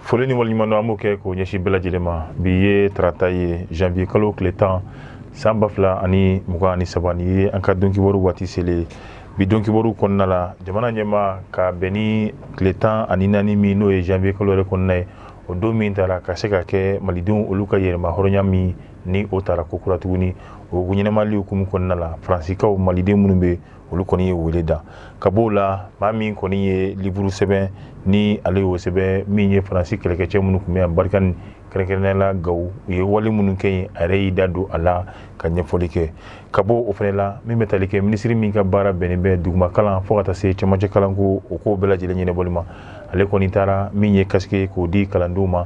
foli ni waleɲumandɔn an b'o kɛ k'o ɲɛsin bɛɛ lajɛlen ma bi ye tarata ye janvier kalo tile tan san ba fila ani mugan ani saba nin ye an ka donkibaru waati selen ye bi donkibaru kɔnɔna la jamana ɲɛmaa ka bɛn ni tile tan ani naani min n'o ye janvier kalo yɛrɛ kɔnɔna ye o don min tara ka se ka kɛ malidenw olu ka yɛrɛma hɔrɔnya min ni o tara ko kura tuguni o ɲɛnamayali hukumu kɔnɔna la faransikaw maliden minnu bɛ olu kɔni ye wele da ka b'o la maa min kɔni ye liburu sɛbɛn ni ale y'o sɛbɛn min ye faransi kɛlɛkɛcɛ minnu tun bɛ yan barikani kɛrɛnkɛrɛnnenya la gawo u ye wale minnu kɛ yen a yɛrɛ y'i da don a la ka ɲɛfɔli kɛ ka bɔ o fana la min bɛ tali kɛ minisiri min ka baara bɛnnen bɛ dugumakalan fo ka taa se cɛmancɛ kalanko o ko bɛɛ lajɛlen ɲɛnabɔli ma ale kɔni taara min ye casque k'o di kalandenw ma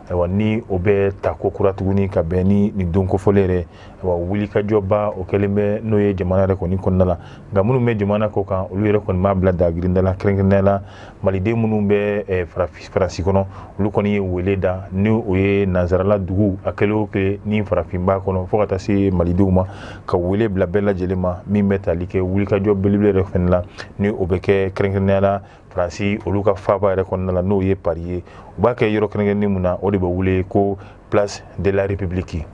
ayiwa ni o bɛ ta ko kura tuguni ka bɛn ni nin don kofɔlen yɛrɛ ayiwa wulikajɔba o kɛlen bɛ n'o ye jamana yɛrɛ kɔni kɔnɔna la nka minnu bɛ jamana kɔ kan olu yɛrɛ kɔni b'a bila dagirinda la kɛrɛnkɛrɛnnenya la maliden minnu bɛ eh, faransi kɔnɔ olu kɔni ye wele da ni o ye nansarala dugu a kɛlen o kɛ ni farafin b'a kɔnɔ fo ka taa se malidenw ma ka wele bila bɛɛ lajɛlen ma min bɛ tali kɛ wulikajɔ belebele yɛrɛ fana la ni o bɛ kɛ kɛrɛnkɛrɛnnenya la faransi olu ka faaba yɛrɛ kɔnɔna la n'o ye pari ye u b'a kɛ yɔrɔ kɛrɛnkɛrɛnnen min na o de bɛ wele ko place de la république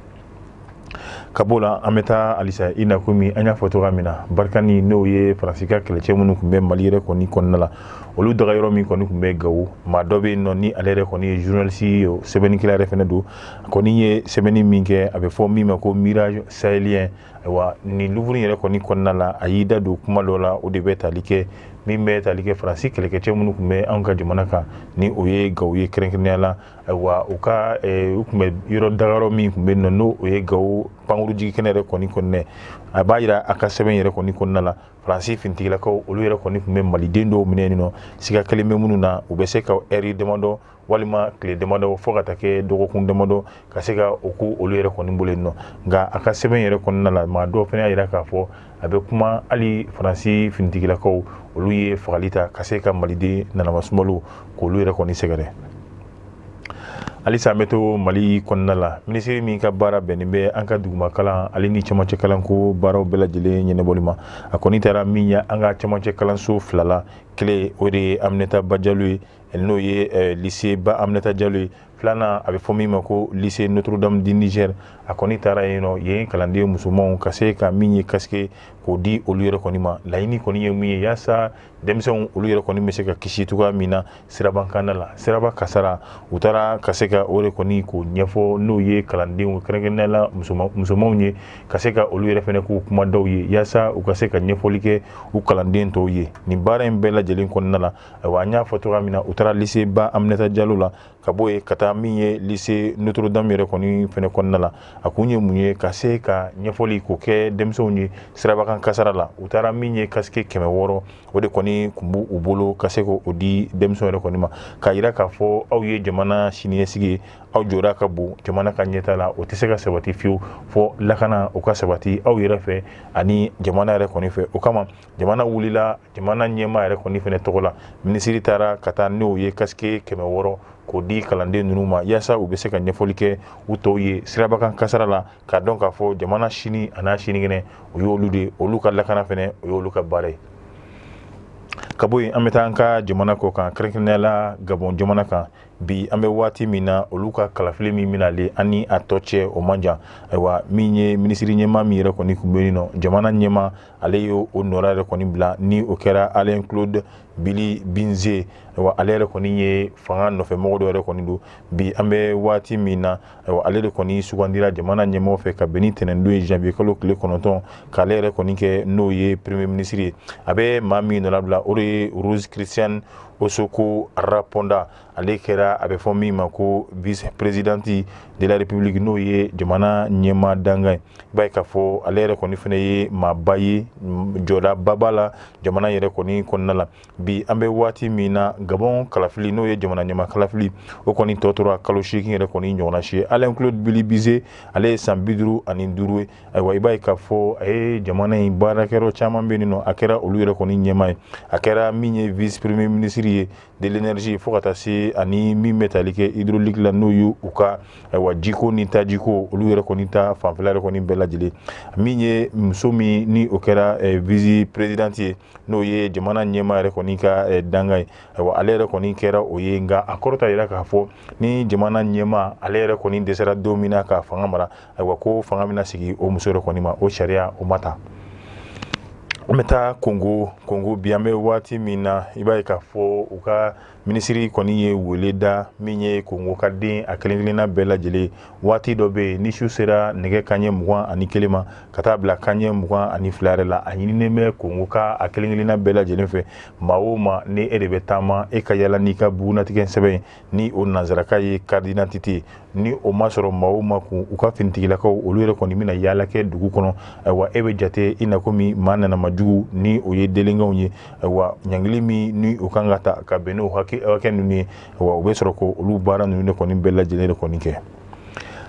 ka b'o la an bɛ taa halisa i na komi an y'a fɔ cogoya min na barikani n'o ye faransi ka kɛlɛcɛ minnu tun bɛ mali yɛrɛ kɔni kɔnɔna la olu dagayɔrɔ min kɔni tun bɛ gawo maa dɔ bɛ yen nɔ ni ale yɛrɛ kɔni ye journaliste ye sɛbɛnnikɛla yɛrɛ fɛnɛ don a kɔni ye sɛbɛnni min kɛ a bɛ fɔ min ma ko mirage sahélien Ayiwa nin liburu yɛrɛ kɔni kɔnɔna la a y'i da don kuma dɔ la o de bɛ tali kɛ min bɛ tali kɛ faransi kɛlɛkɛcɛ minnu tun bɛ an ka jamana kan ni o ye gawo ye kɛrɛnkɛrɛnnenya la ayiwa u ka u tun bɛ yɔrɔ dagayɔrɔ min tun bɛ yen nɔ n'o o ye gawo pankurunjigikɛnɛ yɛrɛ kɔni kɔnɔna a b'a yira a ka sɛbɛn yɛrɛ kɔni kɔnɔna la faransi finitigilakaw olu yɛrɛ kɔni tun bɛ maliden dɔw minɛ yen nɔ siga kɛlen bɛ minnu na u bɛ se ka ɛri damadɔ walima tile damadɔ fo ka taa kɛ dɔgɔkun damadɔ ka se ka o kɛ olu yɛrɛ kɔni bolo yen nɔ nka a ka sɛbɛn yɛrɛ kɔnɔna la maa dɔw fana y'a yira k'a fɔ a bɛ kuma hali faransi finitigilakaw olu ye fagali ta ka se ka maliden nanama sumalo k'olu yɛrɛ kɔni sɛgɛrɛ halisa an bɛ to mali kɔnɔna la minisiri min ka baara bɛnnen bɛ an ka dugumakalan ale ni cɛmancɛ kalanko baaraw bɛɛ lajɛlen ɲɛnabɔli ma a kɔni taara min ye an ka cɛmancɛ kalanso fila la kelen o de ye aminata ba jalo ye n'o ye lycée ba Aminata Diallo ye filanan a bɛ fɔ min ma ko lycée Notre Dame du Niger a kɔni taara yen nɔ ye kalanden musomanw ka se ka min ye kasike k'o di olu yɛrɛ kɔni ma laɲini kɔni ye min ye yaasa denmisɛnw olu yɛrɛ kɔni bɛ se ka kisi cogoya min na sirabakanda la siraba kasara u taara ka se ka o de kɔni k'o ɲɛfɔ n'o ye kalandenw kɛrɛnkɛrɛnnenya la musomanw ye ka se ka olu yɛrɛ fɛnɛ k'u kuma dɔw ye yaasa u ka se ka ɲɛfɔli kɛ u kalanden tɔw ye nin baara in bɛɛ lajɛlen kɔnɔna la Ayiwa an y'a fɔ cogoya min na u taara lycée ba Aminata Diallo la ka bɔ yen ka taa min ye lycée Notre Dame yɛrɛ kɔni fɛnɛ kɔnɔna la a kun ye mun ye ka se ka ɲɛfɔli k'o kɛ denmisɛnw ye sirabakan kasara la u taara min ye kasike kɛmɛ wɔɔrɔ o de kɔni kun b'u u bolo ka se k'o di denmisɛnw yɛrɛ kɔni ma k'a yira k'a fɔ aw ye jamana siniɲɛsigi ye aw jɔda ka bon jamana ka ɲɛtaa la o tɛ se ka sabati fiyewu fo lakana o ka sabati aw yɛrɛ fɛ ani jamana yɛrɛ kɔni fɛ o kama jamana wulila jamana ɲɛmaa yɛrɛ kɔni fɛnɛ tɔgɔ la minisiri taara ka taa n'o ye kasike kɛmɛ wɔɔrɔ k'o di kalanden ninnu ma yaasa u bɛ se ka ɲɛfɔli kɛ u tɔw ye sirabakan kasara la k'a dɔn k'a fɔ jamana sini ani sinikɛnɛ o y'olu de olu ka lakana fɛnɛ o y'olu ka baara ye ka bɔ yen an bɛ taa an ka jamana kɔ kan kɛrɛnkɛrɛnnenya la Gabon jamana kan bi an bɛ waati min na olu ka kalafili min bɛ na ale ani a tɔ cɛ o man jan ayiwa min ye minisiri ɲɛmaa min yɛrɛ kɔni tun bɛ yen nɔ jamana ɲɛmaa ale y'o nɔra yɛrɛ kɔni bila ni o kɛra Alain Claude Bilie By Nze ayiwa ale yɛrɛ kɔni ye fanga nɔfɛmɔgɔ dɔ yɛrɛ kɔni don bi an bɛ waati min na ayiwa ale de kɔni sugandira jamana ɲɛmɔgɔ fɛ ka bɛn ni ntɛnɛndon ye janvier kalo tile kɔnɔntɔn k'ale yɛrɛ kɔni kɛ n'o ye premier ministre ye a bɛ maa min nɔra bila o de ye Rose Christiane Ossouka Raponda ale kɛra a bɛ fɔ min ma ko vice présidente de la république n'o ye jamana ɲɛmaa dankan ye i b'a ye k'a fɔ ale yɛrɛ kɔni fana ye maaba ye jɔdaba b'a la jamana yɛrɛ kɔni kɔnɔna la bi an bɛ waati min na Gabon kalafili n'o ye jamana ɲɛmaa kalafili o kɔni tɔ tora kalo seegin yɛrɛ kɔni ɲɔgɔnna si ye Alain Claude Bilie By Nze ale ye san bi duuru ani duuru ye ayiwa i b'a ye k'a fɔ a ye jamana in baarakɛyɔrɔ caman bɛ yen nɔ a kɛra olu yɛrɛ kɔni ɲɛmaa ye a kɛra min ye vice premier ministre ye de l'énergie fo ka taa se ani min bɛ tali kɛ hydraulique la n'o y' u ka wa jiko ni tajiko olu yɛrɛ kɔni ta fanfɛla yɛrɛ kɔni bɛɛ lajɛlen min ye muso min ni o kɛra vice présidente ye n'o ye jamana ɲɛmaa yɛrɛ kɔni ka dankan ye ayiwa ale yɛrɛ kɔni kɛra o ye nka a kɔrɔ t'a yira k'a fɔ ni jamana ɲɛmaa ale yɛrɛ kɔni dɛsɛra don min na ka fanga mara ayiwa ko fanga bɛna sigi o muso yɛrɛ kɔni ma o sariya o ma ta an bɛ taa kongo bi an bɛ waati min na i b'a ye k'a fɔ u ka minisiri kɔni ye wele da min ye kongo ka den a kelenkelenna bɛɛ lajɛlen waati dɔ bɛ yen ni su sera nɛgɛ kaɲɛ mugan ani kelen ma ka taa bila kaɲɛ mugan ani fila yɛrɛ la a ɲininen bɛ kongo ka a kelenkelenna bɛɛ lajɛlen fɛ maa o maa ni e de bɛ taama e ka yala n'i ka bugunatigɛ sɛbɛn ni o nanzarakan ye carte d'identité ni o ma sɔrɔ maa o maa kun u ka finitigilakaw olu yɛrɛ kɔni bɛna yaala kɛ dugu kɔnɔ ayiwa e bɛ jate i na komi maa nanama jugu ni o ye délinquantw ye ayiwa ɲangili min ni o kan ka ta ka bɛn n'o hakɛ ninnu ye wa o bɛ sɔrɔ ko olu baara ninnu de kɔni bɛɛ lajɛlen de kɔni kɛ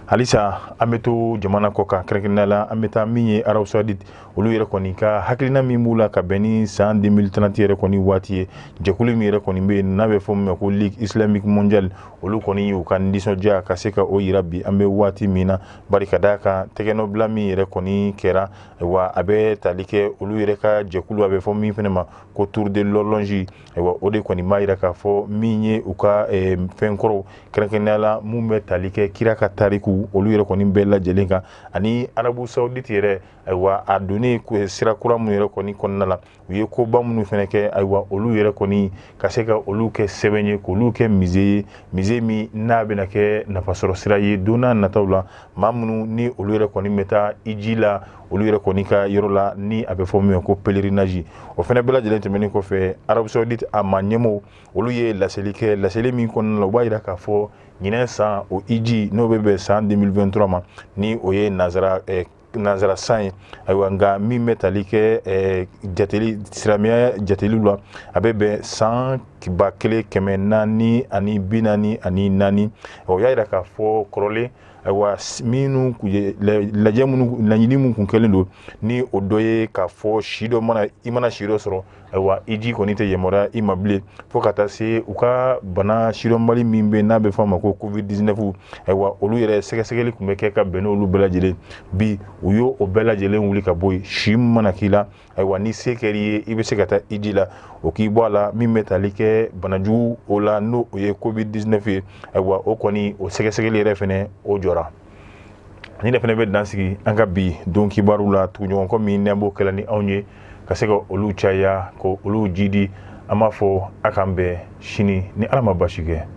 halisa an bɛ to jamana kɔkan kɛrɛnkɛrɛnnenya la an bɛ taa min ye arabu saoudite olu yɛrɛ kɔni ka hakilina min b'u la ka bɛn ni san 2030 yɛrɛ kɔni waati ye jɛkulu min yɛrɛ kɔni bɛ yen n'a bɛ fɔ min ma ko ligue islamique mondiale olu kɔni y'u ka nisɔndiya ka se ka o yira bi an bɛ waati min na bari ka d'a kan tɛgɛnɔbila min yɛrɛ kɔni kɛra wa a bɛ tali kɛ olu yɛrɛ ka jɛkulu a bɛ fɔ min fana ma ko tour de l'horloge wa o de kɔni b'a yira k'a fɔ min ye u ka eh, fɛn kɔrɔw kɛrɛnkɛrɛnnenya la mun bɛ tali kɛ kira ka tariku olu yɛrɛ kɔni bɛɛ lajɛlen kan ani arabu saoudite yɛrɛ ayiwa a donnen sira kura minnu yɛrɛ kɔni kɔnɔna la u ye koba minnu fana kɛ ayiwa olu yɛrɛ kɔni ka se ka olu kɛ sɛbɛn ye k'olu kɛ musée ye musée min n'a bɛna kɛ nafasɔrɔ sira ye don nataw la maa minnu ni olu yɛrɛ kɔni bɛ taa iji la olu yɛrɛ kɔni ka yɔrɔ la ni a bɛ fɔ min ko pèlerinage o fana bɛɛ lajɛlen tɛmɛnen kɔfɛ arabu saoudite a maa ɲɛmɔgɔ olu ye laseli kɛ laseli min kɔnɔna la u b'a yira k'a fɔ ɲinan san o iji n'o bɛ bɛn san 2023 ma ni o ye nanzara nanzara san ye ayiwa nka min bɛ tali kɛ jateli silamɛya jateli la a bɛ bɛn san ba kelen kɛmɛ naani ani bi naani ani naani o y'a yira k'a fɔ kɔrɔlen ayiwa minnu laɲini minnu tun kɛlen don ni o dɔ ye k'a fɔ si dɔ i mana si dɔ sɔrɔ ayiwa iji kɔni tɛ yamaruya i ma bilen fo ka taa se u ka bana sidɔnbali min bɛ n'a bɛ fɔ a ma ko covid 19 ayiwa olu yɛrɛ sɛgɛsɛgɛli tun bɛ kɛ ka bɛn n'olu bɛɛ lajɛlen bi u y'o bɛɛ lajɛlen wuli ka bɔ yen si min mana k'i la ayiwa ni se kɛr'i ye i bɛ se ka taa iji la o k'i bɔ a la min bɛ tali kɛ banajugu o la n'o o ye covid 19 ye ayiwa o kɔni o sɛgɛsɛgɛli yɛrɛ fana o jɔra ni ne fana bɛ dan sigi an ka bi don kibaru la tuguɲɔgɔnkɔ min n'an b'o kɛla ni aw ye ka se ka olu caya ka olu jidi an b'a fɔ a k'an bɛn sini ni ala ma baasi kɛ